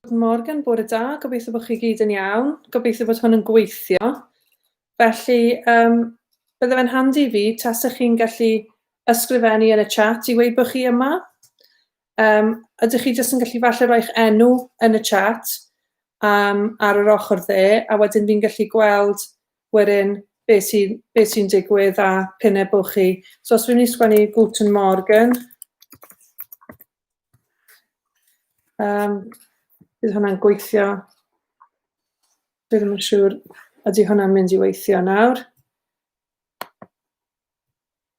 Good morgen, bore da, gobeithio bod chi gyd yn iawn, gobeithio bod hwn yn gweithio. Felly, um, bydde fe'n handi fi, tas ych chi'n gallu ysgrifennu yn y chat i wei bod chi yma. Um, ydych chi jyst yn gallu falle roi'ch enw yn y chat um, ar yr ochr dde, a wedyn fi'n gallu gweld wedyn be sy be sy'n digwydd a p'un e bo chi. So os fi'n mynd i sgwennu Guten Morgen, um, bydd hwnna'n gweithio. Dwi ddim yn siŵr ydy hwnna'n mynd i weithio nawr.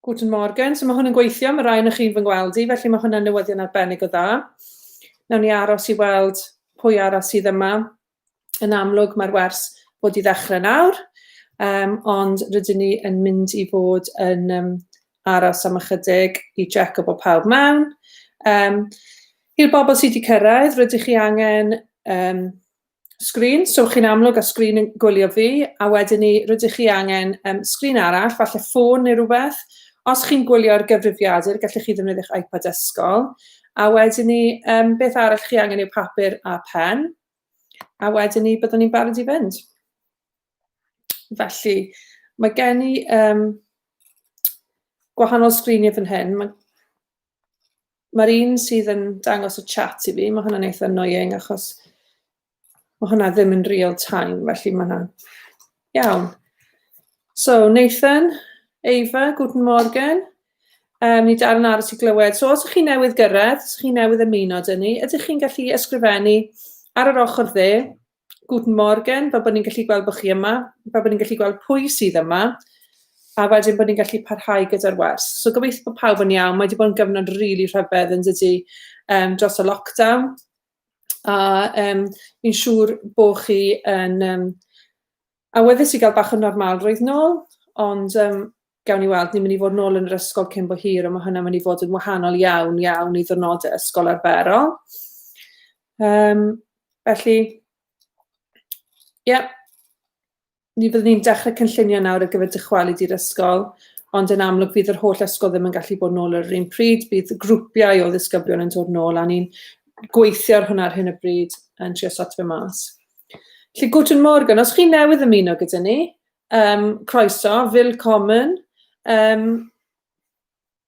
Guten Morgen. So mae hwn yn gweithio, mae rai o'ch chi'n fy ngweld i, felly mae hwnna'n newyddion arbennig o dda. Nawn ni aros i weld pwy arall sydd yma. Yn amlwg mae'r wers bod i ddechrau nawr, um, ond rydyn ni yn mynd i fod yn um, aros am ychydig i jack o bod pawb mewn. Um, I'r bobl sydd wedi cyrraedd, rydych chi angen um, sgrin, so chi'n amlwg a sgrin yn gwylio fi, a wedyn ni rydych chi angen um, sgrin arall, falle ffôn neu rhywbeth. Os chi'n gwylio ar gyfrifiadur, gallwch chi ddefnyddio'ch iPad ysgol. A wedyn ni, um, beth arall chi angen yw papur a pen. A wedyn ni, byddwn ni'n barod i fynd. Felly, mae gen i um, gwahanol sgriniau fan hyn. Mae Mae'r un sydd yn dangos y chat i fi, mae hwnna'n eitha annoying achos mae hwnna ddim yn real time, felly mae hwnna'n iawn. So, Nathan, Eva, guten morgen. Um, ni dal yn aros i glywed. So, os ydych chi newydd gyrraedd, os ydych chi newydd ymuno dyn ni, ydych chi'n gallu ysgrifennu ar yr ochr dde, Guten Morgen, fel bod ni'n gallu gweld bod chi yma, fel bod ni'n gallu gweld pwy sydd yma, a wedyn bod ni'n gallu parhau gyda'r wers. So gobeithio bod pawb yn iawn, mae wedi bod yn gyfnod rili really rhyfedd yn dydy um, dros y lockdown, a um, fi'n siŵr bod chi yn um, Awyddus i gael bach o normalrwydd nôl, ond um, gawn ni weld, ni'n mynd i fod nôl yn yr ysgol cyn bo hir, ond mae hynny'n mynd i fod yn wahanol iawn, iawn i ddyrnodau ysgol arferol. Um, felly, ie, yeah, ni fyddwn ni'n dechrau cynllunio nawr ar gyfer dychwelyd i'r ysgol, ond yn amlwg bydd yr holl ysgol ddim yn gallu bod nôl ar yr un pryd, bydd grwpiau o ddisgyblion yn dod nôl, a ni'n gweithio ar hwnna ar hyn o bryd yn trio sot fe mas. Felly, Guten Morgen, os chi newydd ymuno gyda ni, um, croeso, willkommen. Um,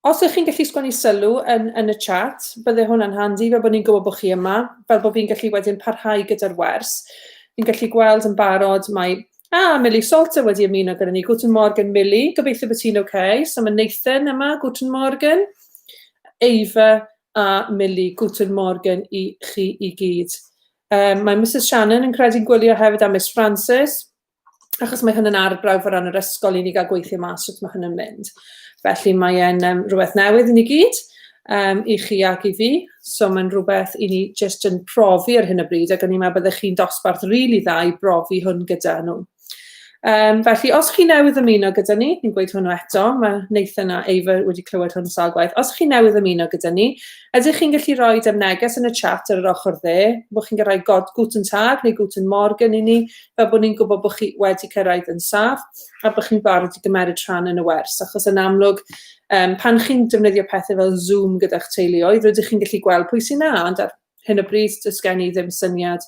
os ych chi'n gallu sgwennu sylw yn, yn y chat, bydde hwnna'n handi, fel bod ni'n gwybod bod chi yma, fel bod fi'n gallu wedyn parhau gyda'r wers. Fi'n gallu gweld yn barod, mae Ah, Millie Salter wedi ymuno gyda ni. Guten Morgen, Millie. Gobeithio bod ti'n oce. Okay. So mae Nathan yma, Guten Morgen. Eifa a Millie, Guten Morgen i chi i gyd. Um, mae Mrs Shannon yn credu'n gwylio hefyd a Miss Francis, achos mae hyn yn arbrawf o ran yr ysgol i ni gael gweithio mas wrth mae hyn yn mynd. Felly mae'n um, rhywbeth newydd i ni gyd, um, i chi ac i fi, so mae'n rhywbeth i ni jyst yn profi ar hyn o bryd, ac o'n i'n meddwl byddech chi'n dosbarth rili really dda i brofi hwn gyda nhw. Um, felly, os chi newydd ymuno gyda ni, ni'n gweud hwnnw eto, mae Nathan a Ava wedi clywed hwn sawl gwaith. Os chi newydd ymuno gyda ni, ydych chi'n gallu rhoi am neges yn y chat ar yr ochr dde, bod chi'n gyrraedd god guten tag neu guten morgen i ni, fel bod ni'n gwybod bod chi wedi cyrraedd yn saff a bod chi'n barod i gymeryd rhan yn y wers, achos yn amlwg, um, pan chi'n defnyddio pethau fel Zoom gyda'ch teuluoedd, rydych chi'n gallu gweld pwy sy'n na, ond ar hyn o bryd, does gen i ddim syniad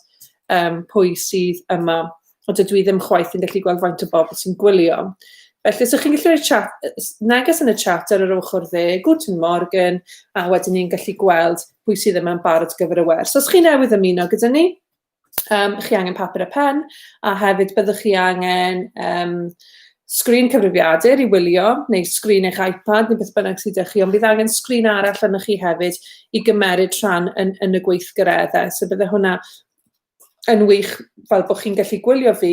um, pwy sydd yma, ond dydw i ddim chwaith yn gallu gweld faint o bobl sy'n gwylio. Felly, os ydych chi'n gallu rhoi chat, neges yn y chat ar yr ochr dde, Guten Morgen, a wedyn ni'n gallu gweld pwy sydd yma'n barod gyfer y wers. Os chi newydd ymuno gyda ni, um, chi angen papur a pen, a hefyd byddwch chi angen um, sgrin cyfrifiadur i wylio, neu sgrin eich iPad, neu beth bynnag sydd â chi, ond bydd angen sgrin arall yna chi hefyd i gymeryd rhan yn, yn y gweithgareddau. So bydde hwnna yn wych fel bod chi'n gallu gwylio fi,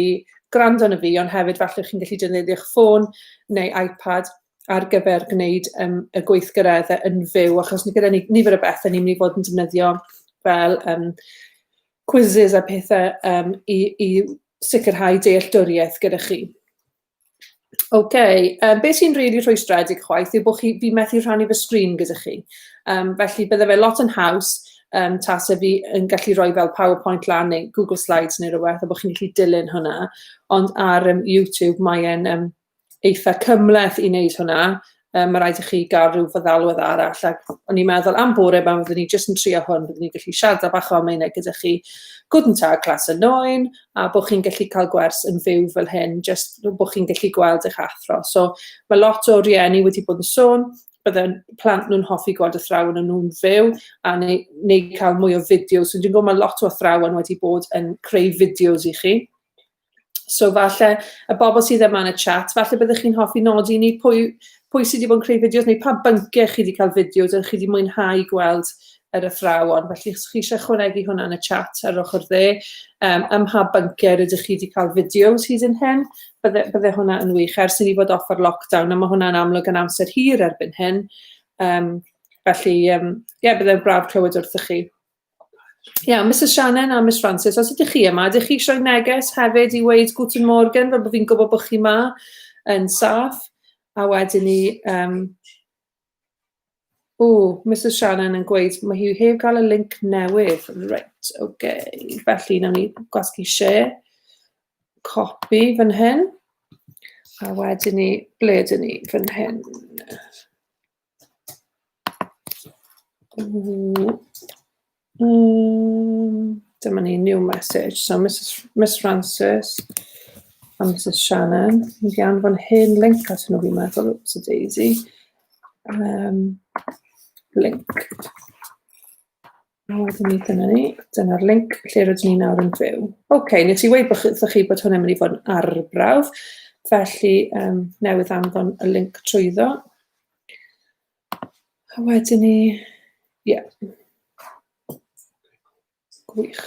gwrando na fi, ond hefyd falle chi'n gallu defnyddio'ch ffôn neu iPad ar gyfer gwneud yym y gweithgaredde yn fyw achos ni gyda ni nifer o bethe ni'n mynd i fod yn defnyddio fel yym quizzes a pethe yym i i sicrhau dealltwriaeth gyda chi. Oce, okay, um, beth sy'n rili really rhwystredig chwaith yw bod chi, fi methu rhannu fy sgrin gyda chi. Um, felly bydde fe lot yn haws um, tasa fi yn gallu rhoi fel PowerPoint lan neu Google Slides neu rhywbeth a bod chi'n gallu dilyn hwnna. Ond ar um, YouTube mae'n um, eitha cymhleth i wneud hwnna, um, mae rhaid i chi gael rhyw feddalwedd arall, ac o'n i'n meddwl am bore yma, fyddwn ni jyst yn trio hwn, byddwn ni'n gallu siarad bach o ameinau gyda chi, gwrdd yn ta'r clas yn noen, a bod chi'n gallu cael gwers yn fyw fel hyn, jyst bod chi'n gallu gweld eich athro. So, mae lot o rieni wedi bod yn sôn, bydde'n plant nhw'n hoffi gweld y athrawon yn nhw'n fyw a neu, neu cael mwy o fideos. So, dwi'n gwybod mae lot o athrawon wedi bod yn creu fideos i chi. So falle y bobl sydd yma yn y chat, falle byddwch chi'n hoffi nodi ni pwy, pwy sydd wedi bod yn creu fideos neu pa bynciau chi wedi cael fideos ydych chi wedi mwynhau gweld yr athrawon. Felly chi eisiau chwanegu hwnna yn y chat ar ochr dde, um, ym mha bynciau rydych chi wedi cael fideos hyd yn hyn, bydde, bydde hwnna yn wych ers i ni fod off ar lockdown, a mae hwnna'n amlwg yn amser hir erbyn hyn. Um, felly, um, yeah, bydde'n braf clywed wrthych chi. Iawn, Misus Shannon a Miss Francis, os ydych chi yma, ydych chi eisiau neges hefyd i weud Guten Morgen, fel bod fi'n gwybod bod chi yma yn saff, a wedyn ni... Um... O, Misus Shannon yn gweud, mae hi heb gael y link newydd. Reit, oce. Okay. Felly, nawn ni gwasgu share, copy fan hyn, a wedyn ni, ble ydyn ni, fan hyn. Ww. Yym, dyma ni, new message. So Misus F- Miss Frances a Misus Shannon. Ni 'di anfon hen linc atyn nhw fi'n meddwl, wps a daisy. Yym, linc. A wedyn ni dyna ni. Dyna'r link lle rydyn ni nawr yn fyw. Oce, okay, nes i weud bod chi, chi bod hwnna'n mynd i fod yn arbrawf, felly um, newydd anfon y link trwyddo. A wedyn ni, ie. Yeah. Gwych.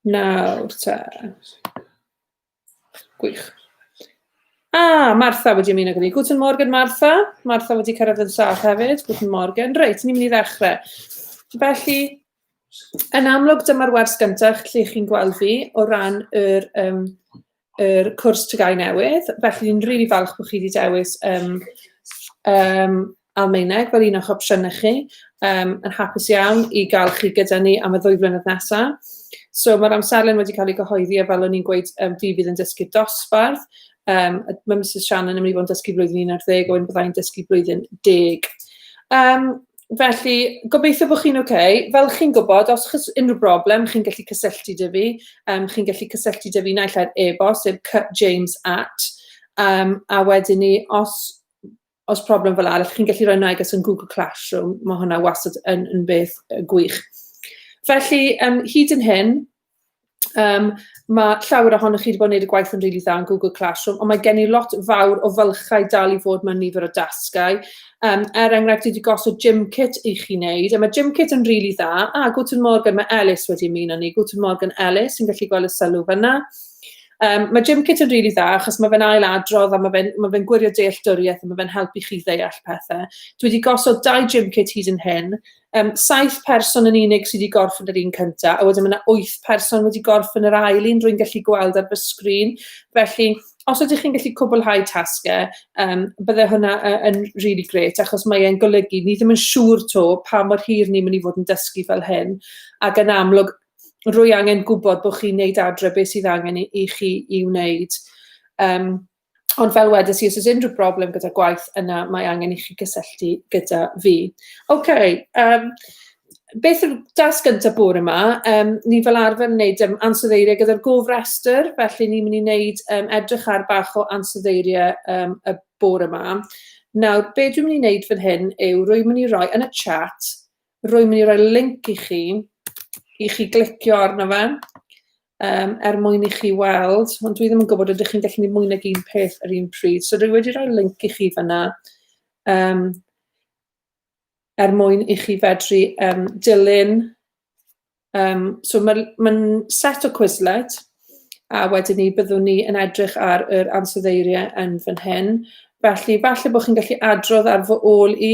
Nawr te. Gwych. Ah, Martha wedi ymuno gyda ni. Guten Morgen, Martha. Martha wedi cyrraedd yn sâl hefyd. Guten Morgen. Reit, ni'n mynd i ddechrau. Felly, yn amlwg, dyma'r wers gyntaf lle chi'n gweld fi o ran yr, um, yr cwrs tygau newydd. Felly, ni'n rili really falch bod chi wedi dewis um, um, Almaeneg fel un o'ch opsiynau chi, um, yn hapus iawn i gael chi gyda ni am y ddwy flynedd nesaf. So mae'r amserlen wedi cael ei gyhoeddi a fel o'n i'n gweud, um, fi fydd yn dysgu dosbarth. Um, mae Mrs Shannon yn mynd i fod yn dysgu blwyddyn 11, o'n byddai'n dysgu blwyddyn 10. Um, felly, gobeithio bod chi'n oce. Okay. Fel chi'n gwybod, os chys unrhyw broblem, chi'n gallu cysylltu dy fi. Um, chi'n gallu cysylltu dy fi naill ai'r e-bost, sef cutjames at. Um, a wedyn ni, os os problem fel arall chi'n gallu rhoi neges yn Google Classroom, mae hwnna wastad yn, yn beth gwych. Felly, um, hyd yn hyn, um, mae llawer ohonych chi wedi bod yn gwneud y gwaith yn rili really dda yn Google Classroom, ond mae gen i lot fawr o fylchau dal i fod mewn nifer o dasgau. Um, er enghraifft, wedi gosod gym kit i chi wneud, a mae gym kit yn rili really dda. A, Guten Morgan, mae Ellis wedi ymuno ni. Guten Morgan Ellis, yn gallu gweld y sylw fyna. Yym ma' gym kit yn rili dda achos ma' fe'n ail adrodd a ma' fe'n ma' fe'n gwirio dealltwrieth a ma' fe'n helpu chi ddeall pethe. Dwi 'di gosod dau gym kit hyd yn hyn. Yym saith person yn unig sy 'di gorffen yr un cynta a wedyn ma' 'na wyth person wedi gorffen yr ail un rwy'n gallu gweld ar fy sgrin. Felly os ydych chi'n gallu cwblhau tasge yym bydde hwnna y- yn rili grêt achos mae e'n golygu ni ddim yn siŵr 'to pa mor hir ni myn' i fod yn dysgu fel hyn ag yn amlwg rwy angen gwybod bod chi'n neud adre beth sydd angen i, i chi i wneud. Um, ond fel wedes i, os oes unrhyw broblem gyda gwaith yna, mae angen i chi gysylltu gyda fi. Oce, okay, um, beth yw'r dasg gyntaf bore yma? Um, ni fel arfer yn gwneud um, ansoddeiriau gyda'r gofrestr, felly ni'n mynd i wneud um, edrych ar bach o ansoddeiriau um, y bore yma. Nawr, be dwi'n mynd i wneud fan hyn yw rwy'n mynd i roi yn y chat Rwy'n mynd i roi link i chi, i chi glicio arno fe, um, er mwyn i chi weld, ond dwi ddim yn gwybod ydych chi'n gallu gwneud mwy nag un peth yr un pryd. So rwy wedi rhoi link i chi fyna, um, er mwyn i chi fedru um, dilyn. Um, so mae'n ma set o Quizlet, a wedyn ni byddwn ni yn edrych ar yr ansoddeiriau yn fan hyn. Felly, falle bod chi'n gallu adrodd ar fy ôl i,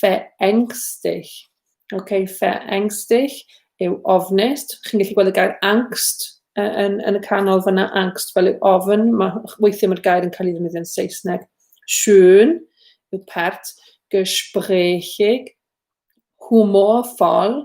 verängstig. OK, verängstig yw ofnus. Chi'n gallu gweld y gair angst yn, yn y canol fyna, angst fel yw ofn. Mae weithiau mae'r gair yn cael ei ddefnyddio yn Saesneg. Schön yw pert, gesprächig, humorvoll,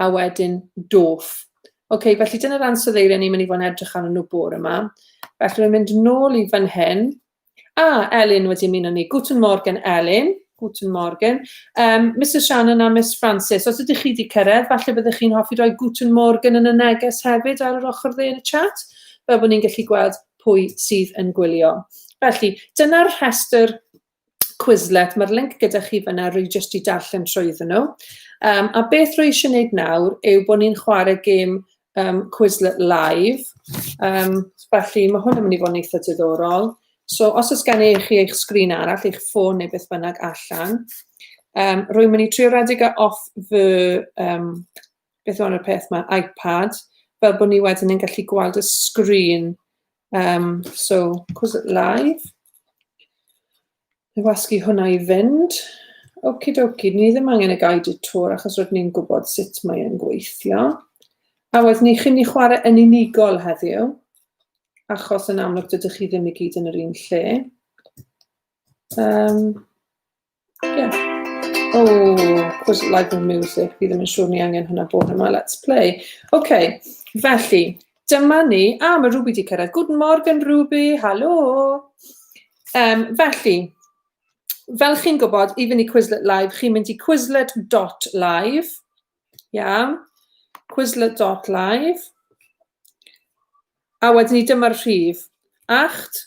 a wedyn doff. OK, felly dyna'r ansoddeiriau ni'n mynd i fod yn edrych arnyn nhw bore yma. Felly rwy'n mynd nôl i fan hyn. A, Elin wedi mynd o ni. Guten Morgen, Elin. Guten Morgen. Um, Mrs Shannon a Miss Francis, os ydych chi wedi cyrraedd, falle byddwch chi'n hoffi rhoi Guten Morgen yn y neges hefyd ar yr ochr dde yn y chat, fel bod ni'n gallu gweld pwy sydd yn gwylio. Felly, dyna'r rhestr Quizlet, mae'r link gyda chi fyna, rwy jyst i darllen trwyddyn nhw. Um, a beth rwy eisiau gwneud nawr yw bod ni'n chwarae gêm um, Quizlet live. Um, felly mae hwn yn mynd i fod yn eitha diddorol. So os oes gen i chi eich sgrin arall, eich ffôn neu beth bynnag allan, um, rwy'n mynd i trio redeg e off fy um, beth o'n y peth mae iPad fel bod ni wedyn yn gallu gweld y sgrin um, so cos it live wasgu hwnna i fynd oki doki ni ddim angen y guided tour achos roedd ni'n gwybod sut mae'n gweithio a wedyn ni chi'n ni chwarae yn unigol heddiw achos yn amlwg dydych chi ddim i gyd yn yr un lle um, Yeah. Oh, cos like the music, fi ddim yn siŵr ni angen hwnna bod yma. Let's play. OK, felly, dyma ni. A, ah, mae Ruby di cyrraedd. Good morgen, Ruby. Halo. Um, felly, fel chi'n gwybod, i fynd i Quizlet Live, chi'n mynd i quizlet.live. Yeah. Quizlet.live. A wedyn ni dyma'r rhif. Acht,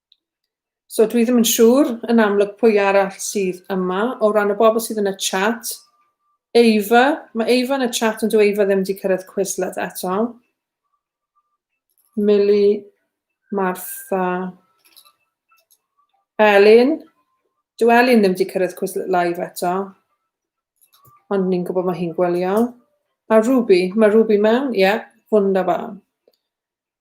So dwi ddim yn siŵr yn amlwg pwy arall sydd yma o ran y bobl sydd yn y chat. Eifa, mae Eifa yn y chat ond dwi Eifa ddim wedi cyrraedd Quizlet eto. Mili, Martha, Elin. Dwi Elin ddim wedi cyrraedd Quizlet live eto. Ond ni'n gwybod mae hi'n gwylio. A Ruby, mae Ruby mewn? Ie, yeah, wunderbar.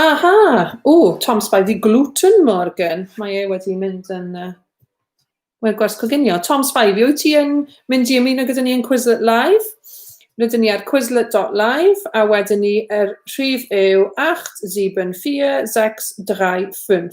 Aha! O, Tom Spy, fi gluten Morgan. Mae e wedi mynd yn... Uh, Mae'r gwers coginio. Tom Spy, fi wyt ti yn mynd i ymuno gyda ni yn Quizlet Live? Rydyn ni ar quizlet.live a wedyn ni yr er rhif yw 87465.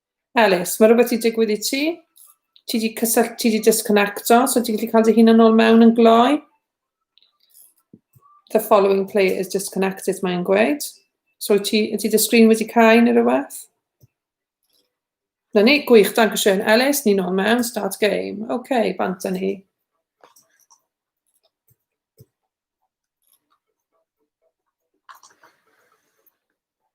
Elis, mae rhywbeth wedi digwydd i ti? Ti wedi cysylltu, ti wedi disconnecto, so ti'n gallu cael dy hun yn ôl mewn yn gloi? The following player is disconnected, mae'n gweud. So wyt ti, ydy dy sgrin wedi cael neu rhywbeth? Na ni, gwych, dan cwestiwn. Elis, ni'n ôl mewn, start game. Oce, okay, bant â ni.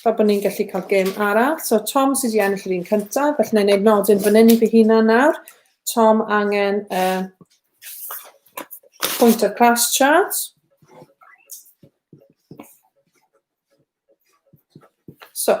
Fel bod ni'n gallu cael gêm arall. So Tom sydd wedi ennill yr un cyntaf, felly na i wneud nodyn fan hyn i fy hunan nawr. Tom angen uh, pwynt o'r class chart. So,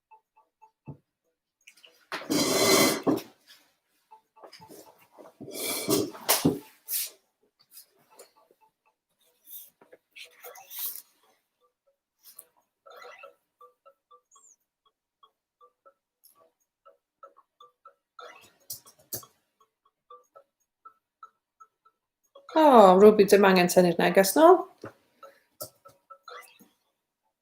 O, Ruby, dim angen tynnu'r neges nôl.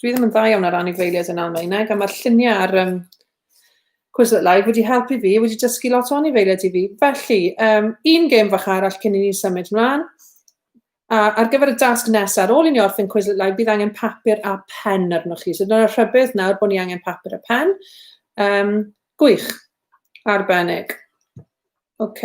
dwi ddim yn dda iawn ar anifeiliaid yn Almaeneg, a mae'r lluniau ar um, Quizlet Live wedi helpu fi, wedi dysgu lot o anifeiliaid i fi. Felly, um, un gêm fach arall cyn i ni symud mlaen. A ar gyfer y dasg nesaf, ar ôl i ni orffen Quizlet Live, bydd angen papur a pen arnoch chi. So dyna'r rhybydd nawr bod ni angen papur a pen. Um, gwych, arbennig. OK.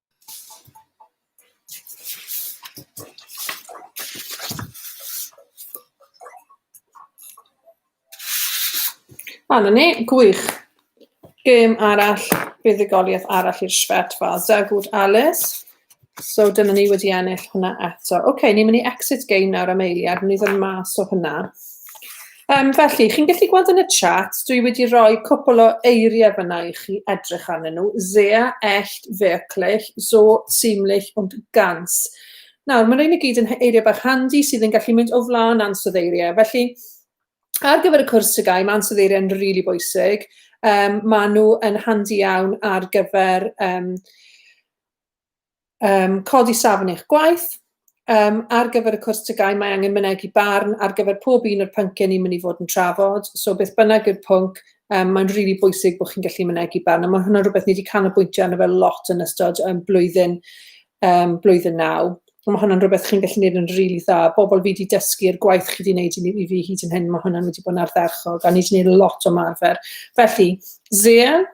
A na ni, gwych. Gêm arall, buddugoliaeth arall i'r Svet fa. Zagut Alice. So dyna ni wedi ennill hwnna eto. Oce, okay, ni'n mynd i exit game nawr am eiliad, ni'n mynd i ddod mas o hwnna. Um, felly, chi'n gallu gweld yn y chat, dwi wedi rhoi cwpl o eiriau fyna i chi edrych arnyn nhw. Zea, ellt, wirklich, so, ziemlich und ganz. Nawr, mae'n rhaid i gyd yn eiriau bach handi sydd yn gallu mynd o flaen ansodd eiriau. Felly, ar gyfer y cwrs tygau, mae ansodd eiriau yn rili really bwysig. Um, mae nhw yn handi iawn ar gyfer um, um, codi safon eich gwaith, um, ar gyfer y cwrs tygau mae angen mynegu barn ar gyfer pob un o'r pynciau ni'n mynd i fod yn trafod, so beth bynnag yw'r pwnc, um, mae'n rili really bwysig bod chi'n gallu mynegu barn, a mae hwnna'n rhywbeth ni wedi canolbwyntio arno fel lot yn ystod um, blwyddyn, um, blwyddyn naw. Mae hwnna'n rhywbeth chi'n gallu gwneud yn rili really dda. Bobl fi wedi dysgu i'r gwaith chi wedi gwneud i fi hyd yn hyn, mae hwnna'n wedi bod yn ardderchog, a ni wedi gwneud lot o marfer. Felly, Zea,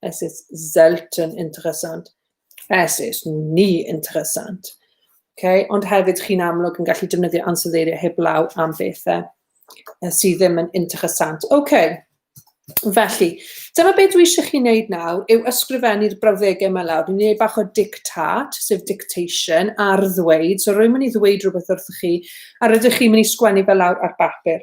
Es ist selten interessant. Es ist nie interessant. Okay? Ond hefyd chi'n amlwg yn gallu defnyddio ansoddeiriau heblaw am bethau sydd ddim yn interessant. Okay. Felly, dyma beth dwi eisiau chi wneud nawr yw ysgrifennu'r brawddegau yma lawr. Dwi'n gwneud bach o dictat, sef dictation, ar ddweud. So rwy'n mynd i ddweud rhywbeth wrthych chi, a rydych chi'n mynd i sgwennu fel lawr ar bapur.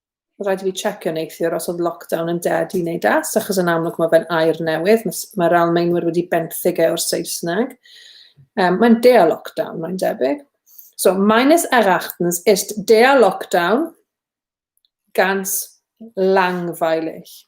Mae'n rhaid i fi checio neithiwr os oedd lockdown yn dead i wneud das, achos yn amlwg mae fe'n air newydd, mae'r Almaenwyr wedi benthyg e o'r Saesneg. Um, mae'n dea lockdown, mae'n debyg. So, meines erachtens ist dea lockdown ganz langweilig.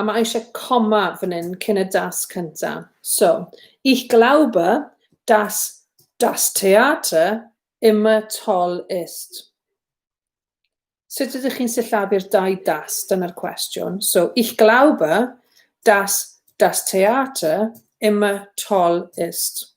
A mae eisiau coma fan hyn cyn y das cynta. So, ich glaube, dass das Theater immer toll ist. Sut ydych chi'n sillafu'r dau das? Dyna'r cwestiwn. So, ich glaube, dass das Theater immer toll ist.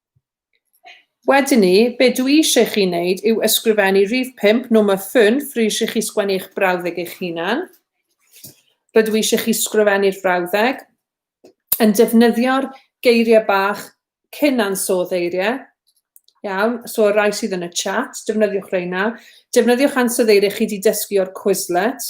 Wedyn 'ny, be dwi eisiau i chi wneud yw ysgrifennu rhif pump, number fünf, rwy eisiau chi sgwennu eich brawddeg eich hunan. Rydw i eisiau chi sgrifennu'r frawddeg yn defnyddio'r geiriau bach cyn ansoddeiriau, eiriau, iawn, so y rhai sydd yn y chat, defnyddiwch reina. Defnyddiwch ansoddeiriau chi wedi dysgu o'r Quizlet,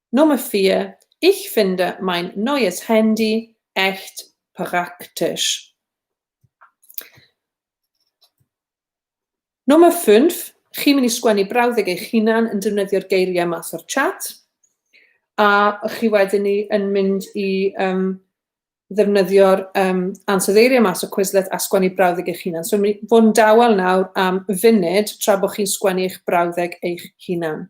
Nummer vier, Ich finde mein neues Handy echt praktisch. Nummer fünf, chi'n mynd i sgwennu brawddeg eich hunan yn defnyddio'r geiriau mas o'r chat, a chi wedyn ni yn mynd i um, ddefnyddio'r um, ansoddeiriau mas o Quizlet a sgwennu brawddeg eich hunan. So, mynd fod yn dawel nawr am funud tra bod chi'n sgwennu eich brawddeg eich hunan.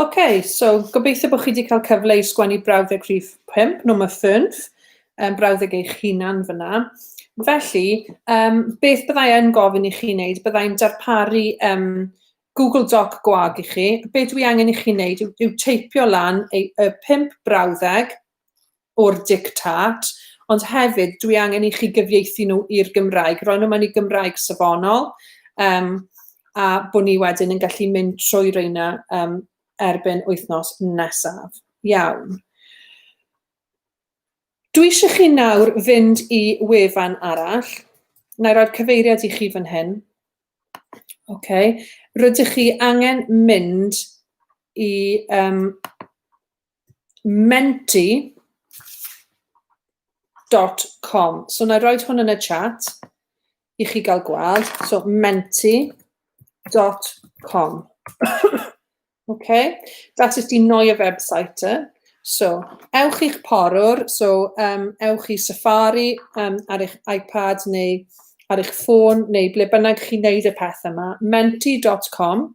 OK, so gobeithio bod chi wedi cael cyfle i sgwennu brawddeg rhif 5, nhw'n ffynf, um, brawddeg eich hunan fyna. Felly, um, beth byddai yn gofyn i chi wneud? Byddai'n darparu um, Google Doc gwag i chi. Be dwi angen i chi wneud yw, yw teipio lan y, y pimp brawddeg o'r dictât, ond hefyd dwi angen i chi gyfieithu nhw i'r Gymraeg, roi nhw mewn i Gymraeg safonol, um, a bod ni wedyn yn gallu mynd trwy reina um, erbyn wythnos nesaf. Iawn. Dwi eisiau chi nawr fynd i wefan arall. Na i roi'r cyfeiriad i chi fan hyn. OK. Rydych chi angen mynd i um, menti.com. So na i roed hwn yn y chat i chi gael gweld. So menti.com. okay, that is the Noia website. Eh? So, ewch i'ch porwr, so um, ewch i Safari um, ar eich iPad neu ar eich ffôn neu ble bynnag chi'n neud y peth yma, menti.com.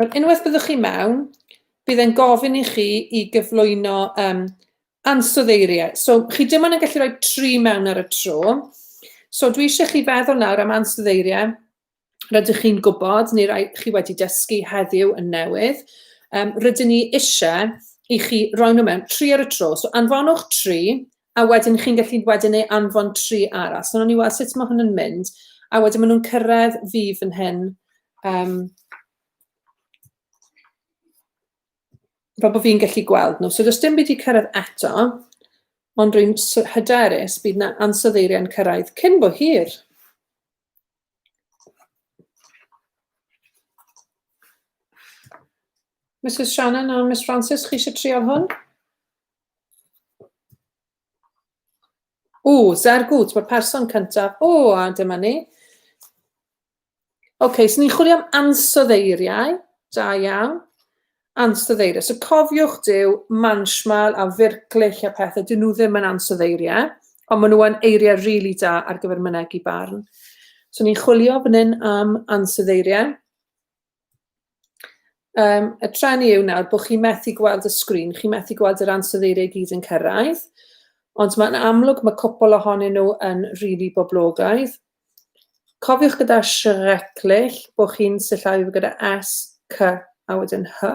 Wel, unwaith byddwch chi mewn, bydd e'n gofyn i chi i gyflwyno um, ansoddeiriau. So, chi dim ond yn gallu rhoi tri mewn ar y tro. So, dwi eisiau chi feddwl nawr am ansoddeiriau rydych chi'n gwybod neu rai chi wedi dysgu heddiw yn newydd. Um, rydyn ni eisiau i chi roi nhw mewn tri ar y tro. So, anfonwch tri a wedyn chi'n gallu wedyn ei anfon tri arall. So, o'n i weld sut mae hwn yn mynd, a wedyn maen nhw'n cyrraedd fi fan hyn. Um, fel bod fi'n gallu gweld nhw. So, does dim byd i cyrraedd eto, ond rwy'n hyderus bydd na ansoddeiriau'n cyrraedd cyn bo hir. Mrs Shannon a Miss Francis, chi eisiau trial hwn? O, Zergwt, mae'r person cyntaf. O, a dyma ni. OK, so ni'n chwilio am ansoddeiriau. Da iawn. Ansoddeiriau. So cofiwch dyw manchmal a firclich a pethau, dyn nhw ddim yn ansoddeiriau, ond maen nhw'n eiriau rili really da ar gyfer mynegu barn. So ni'n chwilio fan hyn am ansoddeiriau. Um, y tren i yw nawr bod chi methu gweld y sgrin, chi methu gweld yr ansoddeiriau gyd yn cyrraedd, ond mae'n amlwg mae cwpl ohonyn nhw yn rili really boblogaidd. Cofiwch gyda sireclill bod chi'n sillafu gyda S, C a wedyn H.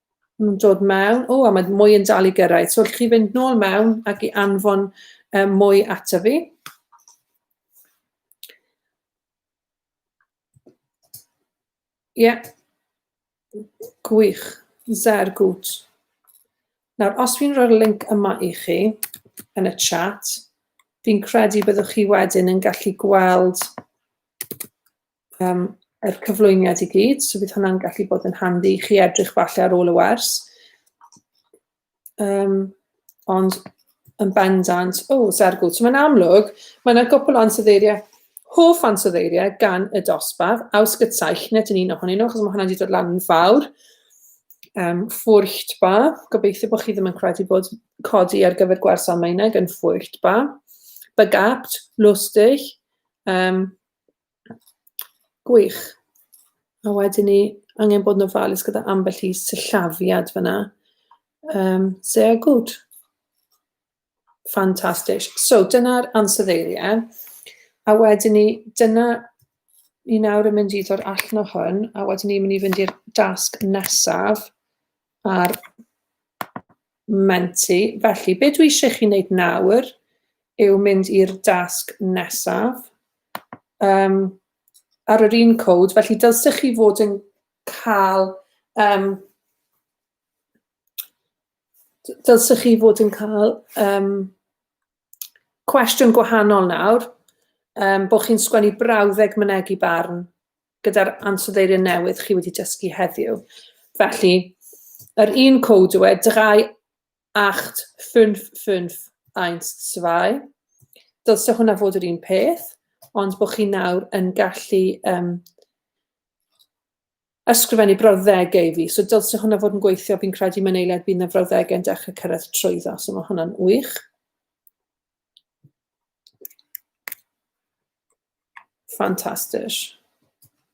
Mae'n dod mewn. O, a mae mwy yn dal i gyrraedd. So, allwch chi fynd nôl mewn ac i anfon um, mwy ato fi. Ie. Yeah. Gwych. Zer gwt. Nawr, os fi'n rhoi'r link yma i chi yn y chat, fi'n credu byddwch chi wedyn yn gallu gweld um, yr cyflwyniad i gyd, so bydd hwnna'n gallu bod yn handi i chi edrych falle ar ôl y wers. Um, ond yn bendant, o, oh, sergwyd. So mae'n amlwg, mae yna gwpl o ansoddeiriau, hoff ansoddeiriau gan y dosbarth, ausgyd saich, nid yn un ohonyn nhw, achos mae hwnna wedi dod lan yn fawr. Um, ffwrcht ba, gobeithio bod chi ddim yn credu bod codi ar gyfer gwers Almaeneg yn ffwrcht ba. Begabt, lustig, um, Gwych. A wedyn ni angen bod yn ofalus gyda ambell i sillafiad fyna. Um, sehr gut. Fantastic. So, dyna'r ansoddeiriau. A wedyn ni, dyna ni nawr yn mynd i ddod allan o hwn, a wedyn ni'n mynd i fynd i'r dasg nesaf, A'r menti. Felly, be dwi eisiau chi wneud nawr yw mynd i'r dasg nesaf. Um, ar yr un cod, felly dylsech chi fod yn cael... Um, dylsech chi fod yn cael um, cwestiwn gwahanol nawr, um, bod chi'n sgwennu brawddeg mynegi barn gyda'r ansoddeiriau newydd chi wedi dysgu heddiw. Felly, yr un cod yw e, 3, 8, 5, 5, 1, 2. Dylse hwnna fod yr un peth, ond bod chi nawr yn gallu um, ysgrifennu brawddegau i fi. So dylse hwnna fod yn gweithio, fi'n credu mae'n eiliad bydd na frawddegau yn dechrau cyrraedd trwyddo, so mae hwnna'n wych. Fantastic.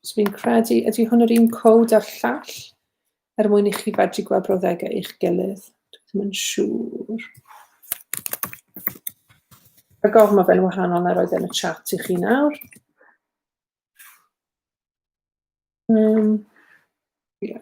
So fi'n credu, ydy hwn yr un cod a'r llall? Er mwyn i chi fedru gweld brawddegau eich gilydd. Dwi'n yn siŵr. A gofyn mae fe'n wahanol na roedd e'n y chat i chi nawr. Um, yeah.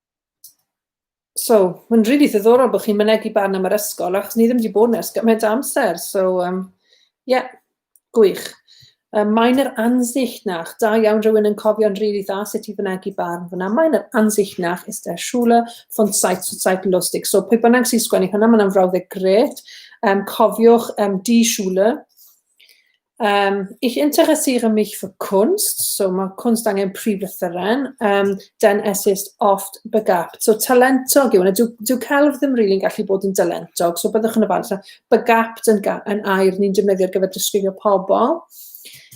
So, mae'n rili really ddiddorol bod chi'n mynegu barn am yr ysgol, achos ni ddim wedi bod yn ers gymaint amser. So, um, yeah, gwych. Um, mae'n yr ansichtnach, da iawn rhywun yn cofio'n rili really dda sut i fynegu barn fyna. Mae'n yr ansichtnach is der Schule von Zeit zu Zeit lustig. So, pwy bynnag sy'n sgwennu hwnna, mae'n frawddeg gret. Um, cofiwch um, di Schule, Um, ich interessiere mich für Kunst, so mae kunst angen prif lythyren, um, den es ist oft begabt. So talentog yw hwnna, dyw, dyw celf ddim rili'n really gallu bod yn dalentog, so byddwch yn y falle begabt yn, yn air ni'n defnyddio ar gyfer disgrifio pobl.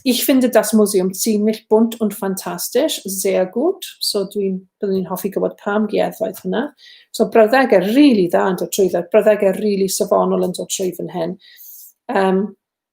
Ich finde das Museum ziemlich bunt und fantastisch, sehr gut. So dwi'n byddwn i'n hoffi gwybod pam gieddfaith hwnna. So brawddegau rili really dda yn dod trwy dda, brawddegau rili really safonol yn dod trwy fan hyn. Um,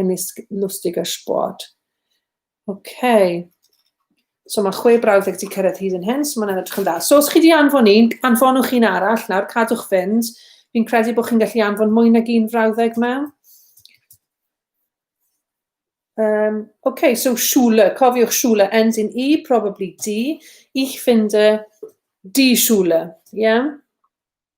yn isg lustig a sport. OK. So mae chwe brawddeg wedi cyrraedd hyd yn hyn, so mae'n edrych yn dda. So os chi wedi anfon un, anfonwch un arall nawr, cadwch fynd. Fi'n credu bod chi'n gallu anfon mwy nag un frawddeg mewn. Um, OK, so Schule, cofiwch Schule ends in E, probably D. Ich finde die Schule, yeah?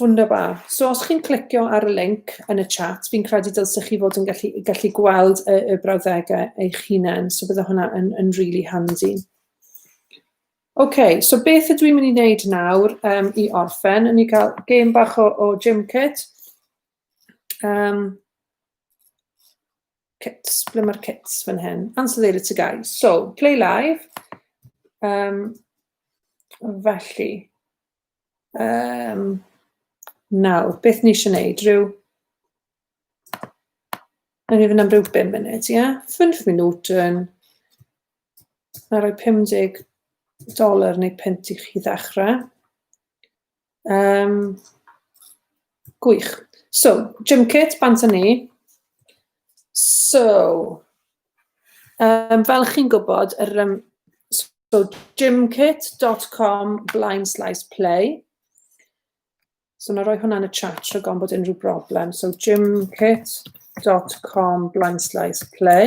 Wunderbar. So os chi'n clicio ar y link yn y chat, fi'n credu dylsech chi fod yn gallu, gallu gweld y, y brawddegau eich hunain, so bydde hwnna yn, yn really handy. OK, so beth ydw i'n mynd i wneud nawr um, i orffen? Yn i cael gêm bach o, o gym kit. Um, kits, ble mae'r kits fan hyn? Answer there to guys. So, play live. Um, felly, Um, nawr, beth ni eisiau gwneud? Rhyw... Rwy'n mynd am ryw 5 munud, ie? Yeah? 5 minut yn... Na roi 50 dolar neu pint i chi ddechrau. Um, Gwych. So, gym kit, bant â ni. So, um, fel chi'n gwybod, yr, um, so gymkit.com blaen slaes play. So, na roi hwnna'n y chat rhag o'n bod unrhyw broblem. So, gymkit.com blaen slaes play.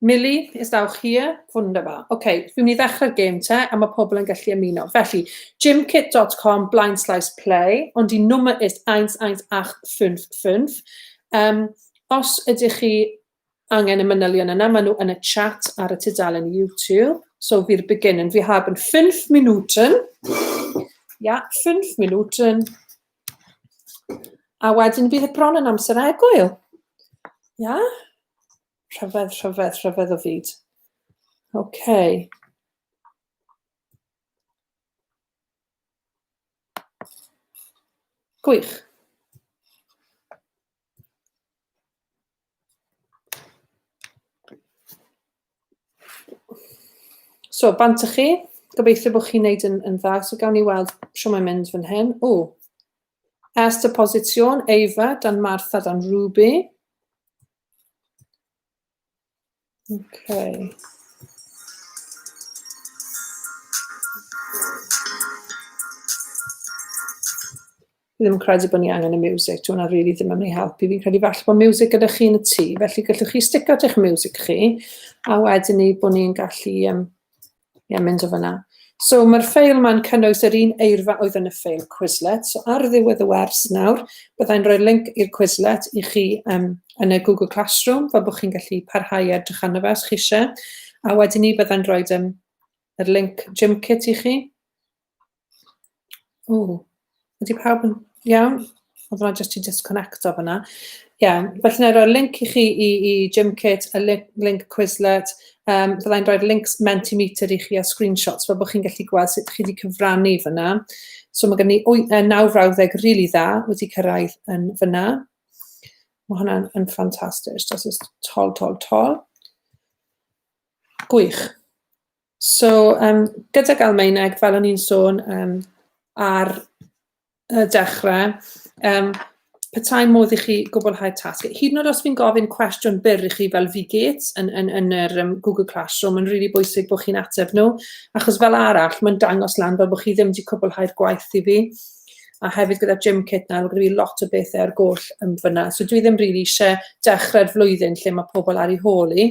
Millie, is thou here? Wunderbar. Oce, okay, fi'n mynd i ddechrau'r gêm te, a mae pobl yn gallu ymuno. Felly, gymkit.com, blind slice play, ond i nummer ist 11855. Um, os ydych chi angen y manylion yna, maen nhw yn y chat ar y tudalen YouTube. So, fi'r beginning. Vi haben 5 Minuten. Ja, 5 Minuten. A wedyn bydd y bron yn amser egwyl. Ia? Rhyfedd, rhyfedd, rhyfedd o fyd. Oce. Okay. Gwych. So, bant y chi. Gobeithio bod chi'n neud yn, yn dda. So, gawn ni weld sio mae'n mynd fan hyn. O, Ers y positio'n Eifa, dan Martha, dan Ruby. Okay. ddim yn credu bod ni angen y music, dwi'n hwnna really ddim yn ei helpu. Fi'n credu falle bod music gyda chi yn y tŷ, felly gallwch chi stick out eich music chi, a wedyn ni bod ni'n gallu um, Ie, mynd o fyna. So mae'r ffeil ma'n cynnwys yr un eirfa oedd yn y ffeil Quizlet. So ar ddiwedd y wers nawr, byddai'n rhoi'r link i'r Quizlet i chi um, yn y Google Classroom, fel bod chi'n gallu parhau edrych arno fe os chi eisiau. A wedyn ni byddai'n rhoi um, yr link Gymkit i chi. O, ydy pawb yn iawn? Oedd rhaid jyst i disconnect o fyna. Iawn, felly na i roi'r link i chi i, i Gymkit, y link, link Quizlet, um, fyddai'n rhoi'r links Mentimeter i chi a screenshots fel bod chi'n gallu gweld sut chi wedi cyfrannu fyna. So mae gen i e, naw frawddeg rili really dda wedi cyrraedd yn fyna. Mae hwnna'n yn ffantastig. Just tol, tol, tol. Gwych. So, um, gydag Almaeneg, fel o'n i'n sôn um, ar y dechrau, um, petai modd i chi gwblhau tasg. Hyd yn oed os fi'n gofyn cwestiwn byr i chi fel fi get yn, yn, yn yr um, Google Classroom, mae'n rili really bwysig bod chi'n ateb nhw, achos fel arall, mae'n dangos lan fel bod chi ddim wedi cwblhau'r gwaith i fi. A hefyd gyda Jim Kit nawr, gyda fi lot o bethau ar goll yn fyna. So dwi ddim rili really eisiau dechrau'r flwyddyn lle mae pobl ar ei hôl i.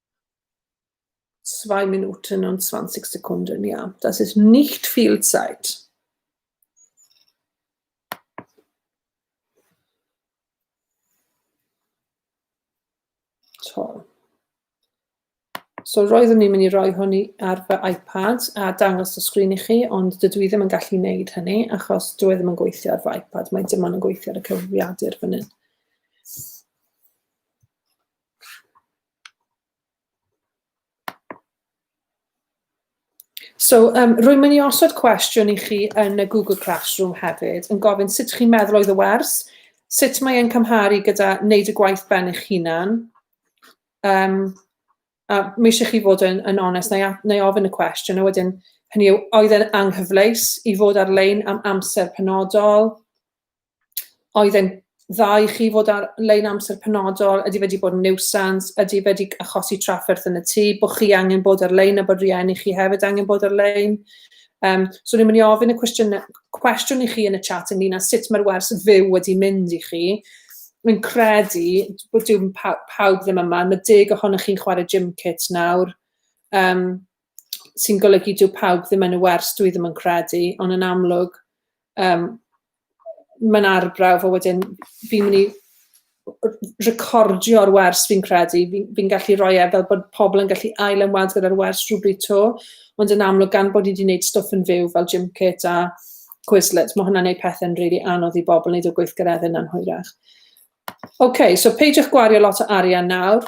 2 Minuten und 20 Sekunden, ja. Das ist nicht viel Zeit. Toll. So roeddwn ni'n mynd i roi hwn ar fy iPad a dangos y sgrin i chi, ond dydw i ddim yn gallu wneud hynny achos dwi e ddim yn gweithio ar fy iPad, mae dim ond yn gweithio ar y cyfrifiadur fan hyn. So um, rwy'n mynd i osod cwestiwn i chi yn y Google Classroom hefyd, yn gofyn sut chi'n meddwl oedd y wers, sut mae'n cymharu gyda wneud y gwaith ben eich hunan. Um, a mi eisiau chi fod yn, yn onest, neu, neu ofyn y cwestiwn, a wedyn hynny yw, oedd e'n anghyfleus i fod ar-lein am amser penodol, oedd e'n dda i chi fod ar lein amser penodol? Ydy fe wedi bod yn niwsans? Ydy fe wedi achosi trafferth yn y tŷ? Bod chi angen bod ar lein a bod rhieni chi hefyd angen bod ar lein? Um, so ni'n mynd i ofyn y cwestiwn, cwestiwn i chi yn y chat ynglyn â sut mae'r wers fyw wedi mynd i chi. Mi'n credu bod dim paw pawb ddim yma. Mae deg ohonych chi'n chwarae gym kit nawr. Um, sy'n golygu dyw pawb ddim yn y wers, dwi ddim yn credu, ond yn amlwg, um, mae'n arbrawf o wedyn fi'n mynd i recordio'r wers fi'n credu, fi'n fi gallu rhoi e fel bod pobl yn gallu ail ymweld gyda'r wers rhywbryd to, ond yn amlwg gan bod i wedi gwneud stwff yn fyw fel gym kit a Quizlet, mae hwnna'n gwneud pethau'n rili really anodd i bobl wneud o gweithgareddau na'n hwyrach. OK, so peidiwch gwario lot o arian nawr.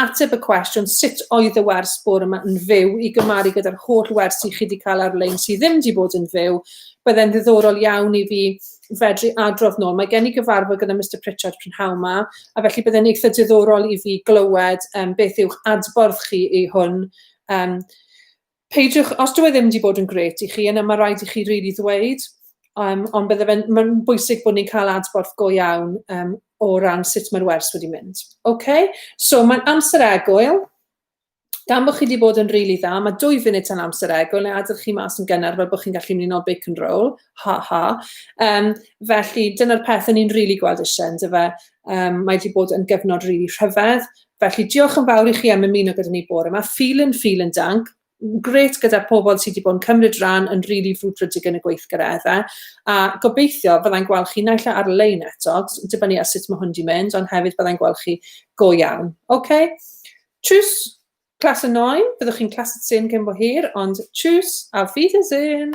Ateb y cwestiwn sut oedd y wers bore yma yn fyw i gymaru gyda'r holl wersi chi 'di cael ar-lein sydd ddim 'di bod yn fyw, bydde'n ddiddorol iawn i fi fedru adrodd nôl. Mae gen i gyfarfod gyda Mister Pritchard prynhawn 'ma, a felly bydde'n eitha diddorol i fi glywed yym beth yw'ch adborth chi i hwn. Yym. Peidiwch, os dyw e ddim wedi bod yn grêt i chi, yna mae rhaid i chi rili ddweud, um, ond bydde fe'n mae'n bwysig bod ni'n cael adborth go iawn um, o ran sut mae'r wers wedi mynd. Okay? So mae'n amser egwyl, gan bod chi wedi bod yn rili really dda, mae dwy funud tan amser egwyl, neu adael chi mas yn gynnar fel bod chi'n gallu mynd i'n ôl bacon roll, ha ha. Um, felly, dyna'r peth o'n i'n rili really gweld eisiau, ynddo fe. Um, mae wedi bod yn gyfnod rili really rhyfedd, Felly, diolch yn fawr i chi am ymuno gyda ni bore yma. Vielen, vielen Dank. Gret gyda'r pobl sydd wedi bod yn cymryd rhan yn rili really frwdfrydig yn y gweithgareddau. A gobeithio byddai'n gweld chi naill e ar-lein eto, dibynnu ar sut mae hwn wedi mynd, ond hefyd byddai'n gweld chi go iawn. Okay? Tschüss, Klasse 9, byddwch chi'n Klasse 10 gen bo hir, ond tschüss, auf Wiedersehen!